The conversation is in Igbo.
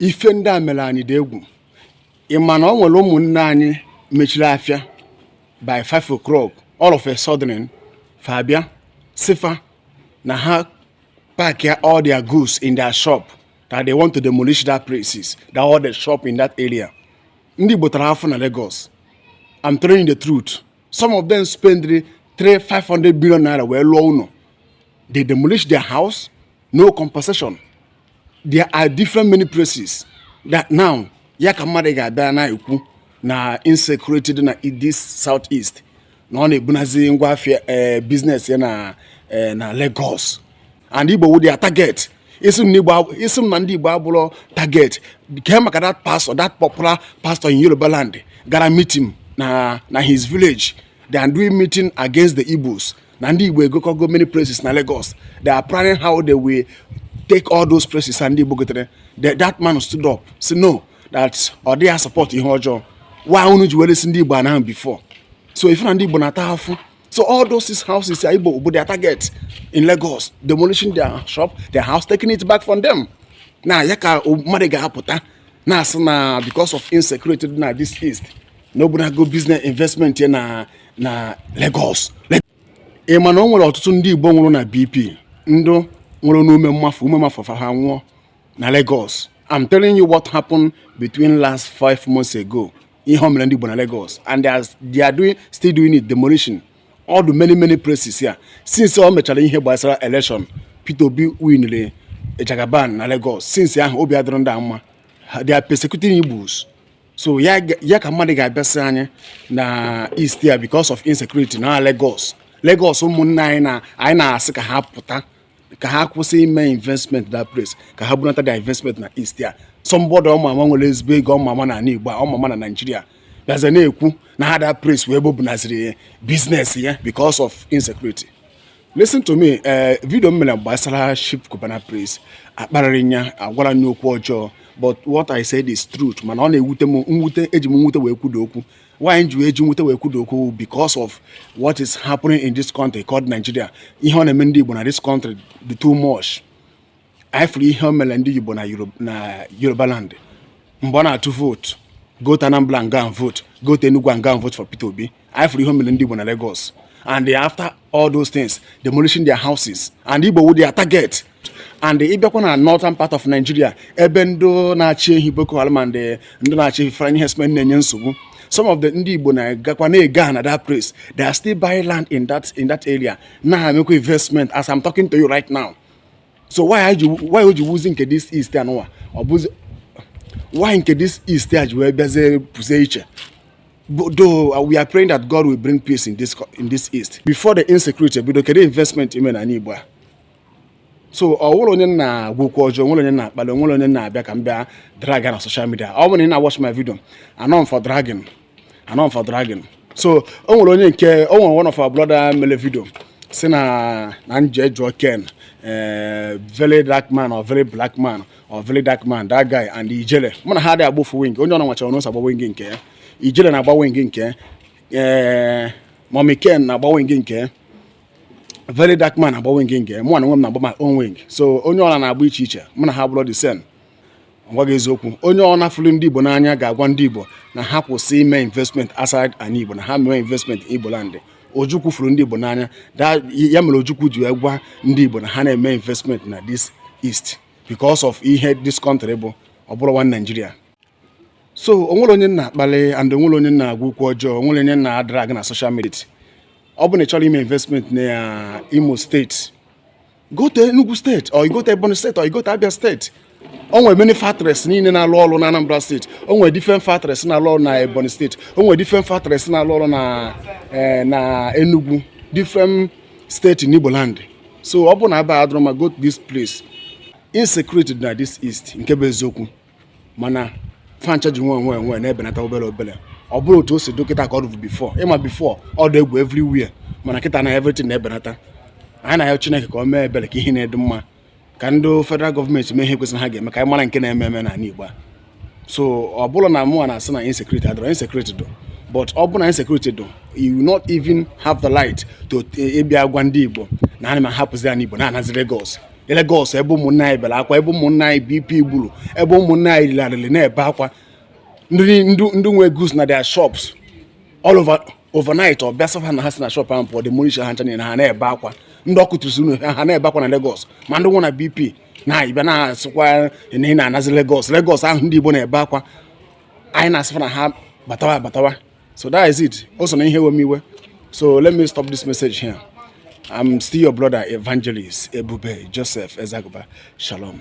ife ndị a mere anyị dị egwu ị ma na o nwere ụmụnne anyị mechiri afịa by 5 o'clock all of a sudden fa abịa sị fa na ha pack all their goods in their shop that they want to demolish that places that all the shop in that area ndị Igbo tara afụ na Lagos I'm telling you the truth some of them spend three five hundred million naira wee lụọ ụnọ they demolish their house no compensation there are different many places that now ya ka mmadụ ga-abịa na-ekwu na insecurity dị na this south east na ọ na-ebunazi ngwa afịa eh, biznes ya na eh, na Lagos and Igbo wụ their target ị sị m na ndị Igbo abụrọ target kee maka that pastor that popular pastor in Yoruba land gara meeting na na his village they are doing meeting against the Igbos na ndị Igbo egokọgo many places na Lagos they are planning how they will take all those places and ndị Igbo gotere that man stood up say no that ọ dịrọ support ihe ọjọọ why unu ji wee resi ndị Igbo ana ahụ before so ị fụ na ndị Igbo na-ata afụ so all those six houses are Igbo bụ their target in Lagos demolishing their shop their house taking it back from them now ya ka mmadụ ga-apụta na-asị na because of insecurity na this east na o bunago business investment ya na na Lagos ị ma na o nwere ọtụtụ ndị Igbo nwụrụ na BP ndị nwụrụ n'ume mmafụ ume mafụ fa ha nwụọ na Lagos I'm telling you what happened between last five months ago ihe o mere ndị Igbo na Lagos and they are, they are doing, still doing it demolition all the many many places here since o mechara ihe gbasara election Peter Obi winere Jagaban na Lagos since ahụ obi adịrọ ndị a mma they are persecuting Igbos so ya ka mmadụ ga-abịa sị anyị na east here because of insecurity na Lagos Lagos ụmụnne anyị na-asị ka ha pụta ka ha kwụsị ime investment that place ka ha bunata their investment na east here somebody ọ ma ama nwere ezigbo ego ọ ma ama na ana Igbo ọ ma ama na Naịjirịa bịaza na-ekwu na ha that place wụ ebe o bunaziri biznes ya because of insecurity listen to me ee eh, vidio m mere gbasara Chief Cubana Priest akparịrị m ya agwara m ya okwu ọjọọ but what I said is truth mana ọ na-ewute m mwute eji m nwute wee kwudo okwu why m ji eji nwute wee kwudo okwu because of what is happening in this country called Nigeria ihe ọ na-eme ndị Igbo na this country dị too much ị fụrụ ihe o mere ndị Igbo na Yoruba land mgbe ọ na-atụ vootu go to Anambra and go and vote go to Enugu and go and vote for Peter Obi ị fụrụ ihe o mere ndị Igbo na Lagos and after all those things demolishing their houses and Igbo wụ their target and ị bịakwa na northern part of Nigeria ebe ndị na-achị ehi Boko Haram and eh, ndị na-achị ehi Fulani herdsmen na-enye nsogbu some of the ndị Igbo na-agakwa na-ego ana that place they are still buying land in that in that area na-emekwa investment as I'm talking to you right now so why o ji wụzi nke this east anụwa ọ bụzi why nke this east a ji wee bịazie pụzie iche though uh, we are praying that God will bring peace in this in this east before the insecurity bido kedu investment i me na ani Igbo a so o nwere onye na-agwa okwu ọjọọ nwere onye na-akpali nwere onye na-abịa ka m bịa dragọọ na social media ọ bụrụ na ị na-watch my video anọ m for dragging anọ m for dragging so o nwere onye nke o nwere one of our brother mele video sị na na m je jụọ ken eh, very dark man or very black man or very dark man that guy and ijele mụ na ha adịghị agba ofu wing onye ọbụna nwechara n'ụzọ agba wing nke ya ijele na-agba wing nke ya ee eh, mọmi ken na-agba wing nke ya very dark man agba wing nke ya mụ onwe m na-agba my own wing so onye ọbụla na-agba iche iche mụ na ha abụrọ the same m gwa gị eziokwu onye ọbụna fụlụ ndị Igbo n'anya ga-agwa ndị Igbo na ha kwụsị ime investment outside ani Igbo na ha mee investment n'Igbo land Ojukwu fụrụ ndị Igbo n'anya ya mere Ojukwu ji gwa ndị Igbo na ha na-eme investment na this east because of ihe this country bụ ọ bụrọ one Nigeria so onwere onye na-akpali and onwere onye na-agwa okwu ọjọọ onwere onye na-adrag na social media ọ bụ na ị chọrọ ime investment na Imo steeti go to Enugu steeti or you go to Ebonyi steeti or you go to Abia steeti o nwere many factories niile na-alụ ọrụ na Anambra steeti o nwere different factories na-alụ ọrụ na Ebonyi steeti o nwere different factories na-alụ ọrụ na eh, na Enugu different steeti n'Igbo land so ọ bụ na Aba adịrọ mma go to this place insecurity dị na this east nke bụ eziokwu mana fa ncha ji nwayọ nwayọ na-ebenata obere obere ọ bụrọ otu o si dị kịta ka ọ dịbu before ị ma before ọ dị egwu everywhere mana kịta na everything na-ebenata anyị na-ayọ Chineke ka o mee ebere ka ihe na-adị mma ka ndị federal gọọmenti mee ihe kwesịrị ha ga-eme ka anyị mara nke na-eme eme n'ala Igbo a so ọ bụrụ na mụnwa na-asị na insecurity adịrọ insecurity dị but ọ bụrụ na insecurity dị you will not even have the right to ịbịa eh, gwa ndị Igbo na ana m ahapụzi ani Igbo na-anazi Lagos Lagos ebe ụmụnna anyị bere akwa ebe ụmụnna anyị BP gburu ebe ụmụnna anyị literally na-ebe akwa ndị nwe goods na their shops all over overnight a bịa sị fa na ha si na shop ahụ pụọ demolish ha ncha niile ha na-ebe akwa ndị a kụturusi ụnọ ha na-ebe akwa na Lagos ma ndị nwụ na BP na ị bịa na-asịkwa na ị na-anazi Lagos Lagos ahụ ndị Igbo na-ebe akwa anyị na-asị fa na ha batawa batawa so that is it o so na ihe wem iwe so let me stop this message here i'm still your brother evangelist ebube joseph ezaguba shalom